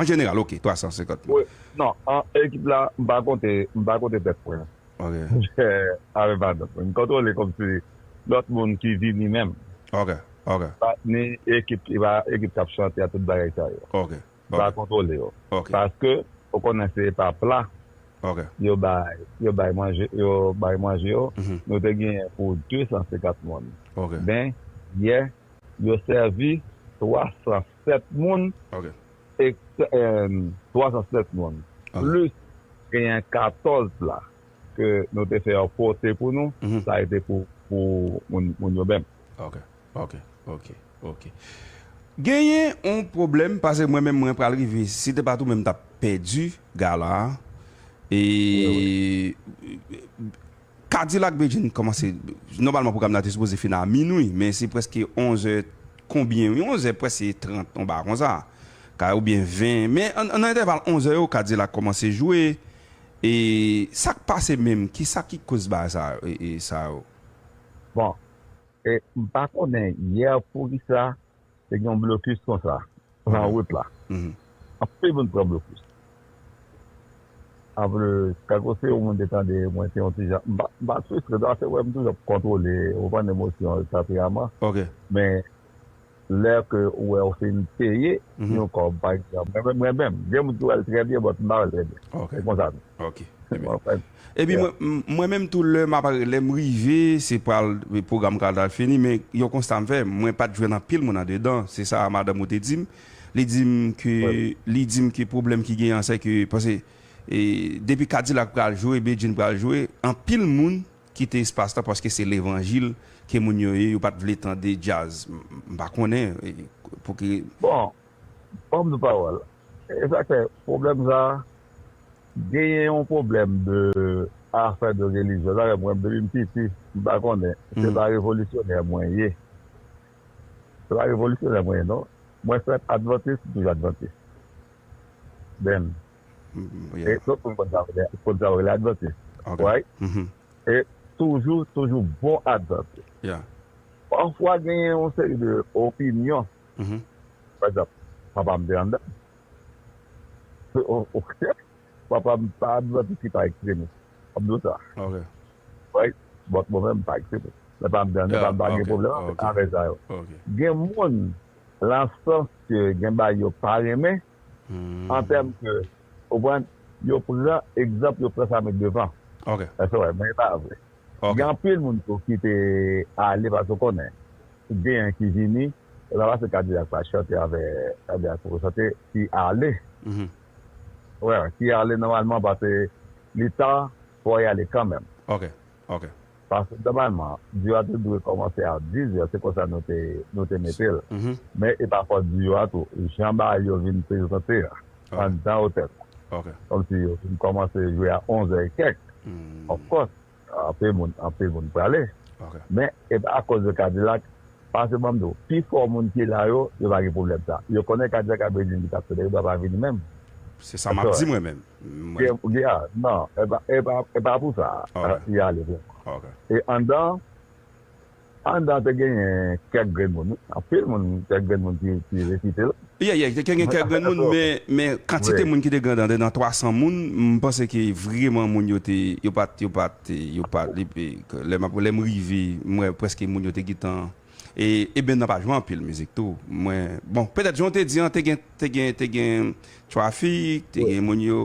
An jeneral, ok, 350 mil. Non, an ekip la, m pa konte, m pa konte tèt mwen. Ok. Avèk patnè mwen. M kontwole kòm se lòt moun ki vini menm. Ok, ok. Ni ekip, e pa ekip k ap chante a, tout bagay sa yo. Ok, ok. M pa kontwole yo. Ok. Paske, ou konnen se pa pla. Ok. Yo bay, yo bay manje, yo bay manje yo. Nou te genyen pou 250 moun. Ok. Men, yè, yo sèvi 300. 7 moun e 307 moun plis genyen 14 la ke nou te fè yo pote pou nou sa e te pou moun yo menm. Ok ok ok ok genyen yon pwoblèm pase mwen menm mwen pral rive si se te pa tou mwen m tap pèdi gala a e. Kadilak Bedjine kòmanse nòmalman pwogram nan te sipoze fini a minwi men se prèske onzè konbyen wi onzè prèske trant yon bagay konsa ka oubyen ven men nan entèval onzè yo kadilak kòmanse jwe e sak pase menm kisa ki koz bagay sa sa yo. Bon e m pa konnen yè poukisa te gen yon blokis konsa nan wout la. Anpil moun pran blokis. Anplis, tankou si yon moun te tande mwen te yon ti jan, m pa fristre non, se wè m toujou ap kontwole, ou konn emosyon yo, tanperaman. Men, lè ke ou wè ou fin peye yon kòb, pa egzanp, mwen menm, gen moun ki wè l trè byen, bòt m pa wè l trè byen. Se konsa tou. Epi mwen menm tou lè map lèm rive se pral pwogram ka ta fini men yon konsta m fè mwen pat jwenn anpil moun andedan se sa madanm ou te dim li dim ke li dim ke pwoblèm ki genyen an se ke pase depi kadilak pral jwe bedjine pral jwe anpil moun kite espas la paske se levanjil ke moun yo ye yo pat vle tande djaz m pa konnen pou ki bon banm yon pawòl E sak fè pwoblèm sa genyen yon pwoblèm de afè de relijyon sa fè mwen depi m piti m pa konnen se pa revolisyonè mwen ye se pa revolisyonè mwen ye non mwen fèt advantis m toujou advantis byn e tout moun konn sa yo rele konn sa yo rele advantis right e toujou toujou bon advantis pafwa genyen yon seri de opinyon Pa egzanp, papa m te anndan. Papa m pa advantis li pa ekstremis. Ou konprann sa? Right? But mwen menm m pa ekstremis. Men papa m te anndan, papa m pa gen pwoblèm avèk afè sa yo. Gen moun, lan sans ke gen bagay yo pa renmen, an tèm ke ou konprann yo pran egzanp yo pran sa met devan èske wè men e pa vre gen anpil moun tou ki te ale paske ou konnen genyen ki vini e pa paske kadilak pa chante avè kadilak poko chante ki ale ou wè ki ale nòmalman paske li ta fò y ale kanmèm. Ok. Paske nòmalman, diyo a te dwe kòmanse a 10 zè, se konsa nou te nou te mete l. Men e pa fòt diyo a tou, jan bagay yo vin prezante a, anndan otèl la. Ok. Kòmsi yo vin kòmanse jwe a 11 zè e kèk. Of course, anpil moun, anpil moun prale. Ok. Men e pa akoz de Kadilak, paske banm di w, pi fò moun ki la yo, yo pa gen pwoblèm sa. Yo konnen Kadilak ap vini, li t ap fè de, li pa va vini menm. Se sa m ap di mwen menm. Mwen. Gea, nan, e pa pou sa li ale vrèman. E anndan, anndan te genyen kèk grenn moun wi, anpil moun, kèk grenn moun ki refite l. Ye, ye, te genyen kèk grenn moun, men, men kantite moun ki te gen anndan, nan 300 moun, m panse ke vreman moun yo te, yo pa t, yo pa t, yo pa t, lè m ap, lè m rive, m wè prèske moun yo te gen tan. E Eben nan pa jwe anpil mizik tou mwen bon petèt jan w te di an te gen te gen te gen trafik te gen moun yo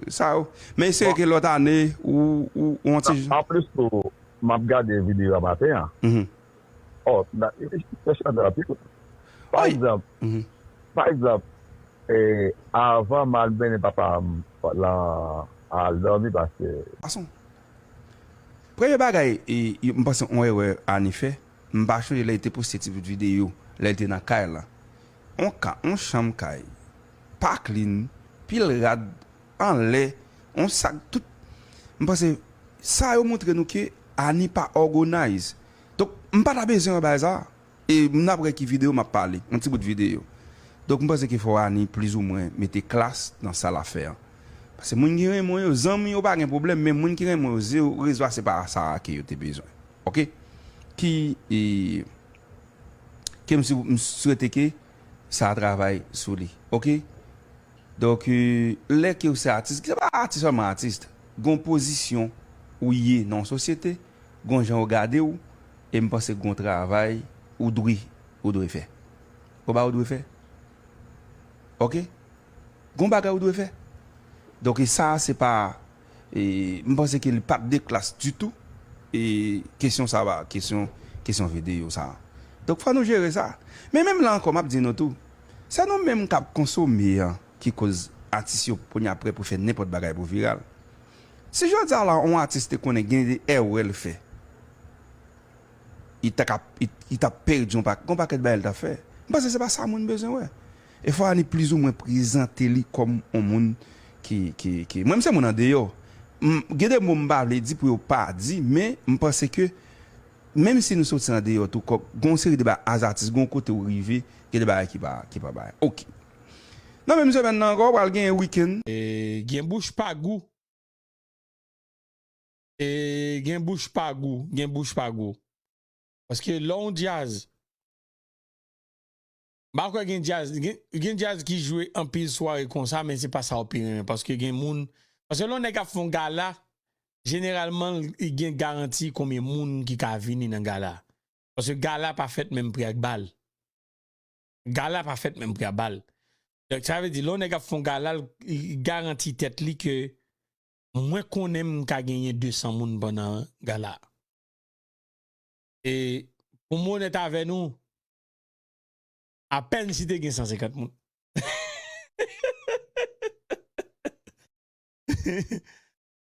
sa yo men espere ke lòt ane ou ou ou yon ti jan. Anplis tou m ap gade videyo a maten an ò nan e li fè chante anpil wi pa egzanp pa egzanp e avan m al mennen papa m lan al dòmi paske. Ason Premye bagay m panse yon erè Annie fè, m pa chonje lè li te poste ti bout videyo lè li te nan kay lan. Yon ka, yon chanm kay pa klin, pil rad anlè, yon sak tout. M panse sa yo montre nou ke Annie pa ògonayz. Donk m pa ta bezwen wè bagay sa. E m nan aprè ki video map pale. Yon ti bout video. Donk m panse ke fò Rani plis ou mwen mete klas nan sa lap fè an. Pase moun ki renmen w yo, zanmi yo pa gen pwoblèm men moun ki renmen w yo ze ou rezo a se pa sa a ke yo te bezwen. Ok. Ki e ke m si m swete ke sa a travay sou li. Ok. Donk e lè ke ou se atis, se pa atis sèlman atis. Gon pozisyon ou ye nan yon sosyete. gon jan ou gade ou em panse gon travay ou dri ou dwe fè gon bagay ou dwe fè ok gon bagay ou dwe fè donk e sa se pa e m panse ke li pat de klas ditou e kesyon sa ba kesyon kesyon vedeyo sa donk fò nou jere sa men menm la ankò map di nou tou se nou menm kap konsome an ki koz atis yo kounye a prè pou fè nenpòt bagay pou viral. Si jodi a la on atis te konnen gen de èrè l fè, li ta ka li ta pèdi on paket gen on pakèt bagay li ta fè. M panse se pa sa moun bezwen wè. E fwa a li plizoumwen prezante li kòm on moun ki ki ki mwen m se moun andeyò, m gen de mo m pa vle di pou yo pa di men m panse ke menm si nou soti andeyò tou kòk gen on seri de ba as atis gen on kote ou rive gen de bagay ki pa ki pa bay ok. Nan menm semèn nan ankò pral gen weekend. Gen bouch pa gou Gen bouch pa gou Gen bouch pa gou Paske lè yon djaz M pa kwè gen djaz Gen djaz ki jwe anpil sware konsa men se pa sa ou pi renmen paske gen moun Paske lè yon nèg ap fè yon gala jeneralman li gen garanti konbyen moun ki ka vini nan gala Paske gala pa fèt menm pri ak bal. Gala pa fèt menm pri a bal. Donk sa vle di lè yon nèg ap fè yon gala li garanti tèt li ke mwen konnen m ka genyen 200 moun pandan gala a. E pou mwen onèt avè nou apèn si te gen 150 moun.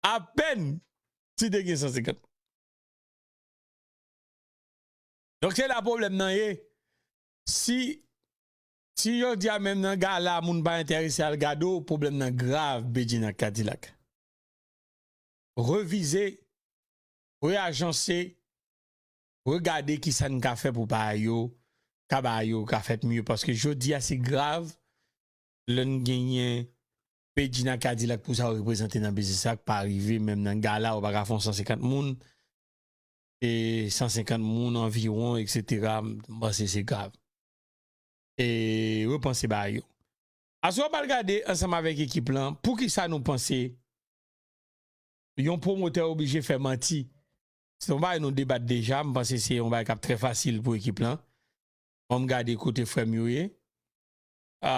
Apèn si te gen 150 moun. Donk se la pwoblèm nan ye. Si si jodia menm nan gala moun pa entèrese al gade w pwoblèm nan grav Bedjine ak Kadilak. Revize, reajanse, regade kisa n ka fè pou pa yo ka ba yo ka fèt mye paske jodia se grav lè n genyen Bedjine ak Kadilak pou sa yo reprezante nan biznis la k pa rive menm nan gala ou pa ka fè yon 150 moun e 150 moun anviwon eksetera m panse se grav e repanse bagay yo aswè w pral gade ansanm avèk ekip lan poukisa nou panse yon pwomotè oblije fè manti se yon bagay nou debat deja m panse se yon bagay k ap trè fasil pou ekip lan an m gade kote frè m yo ye a.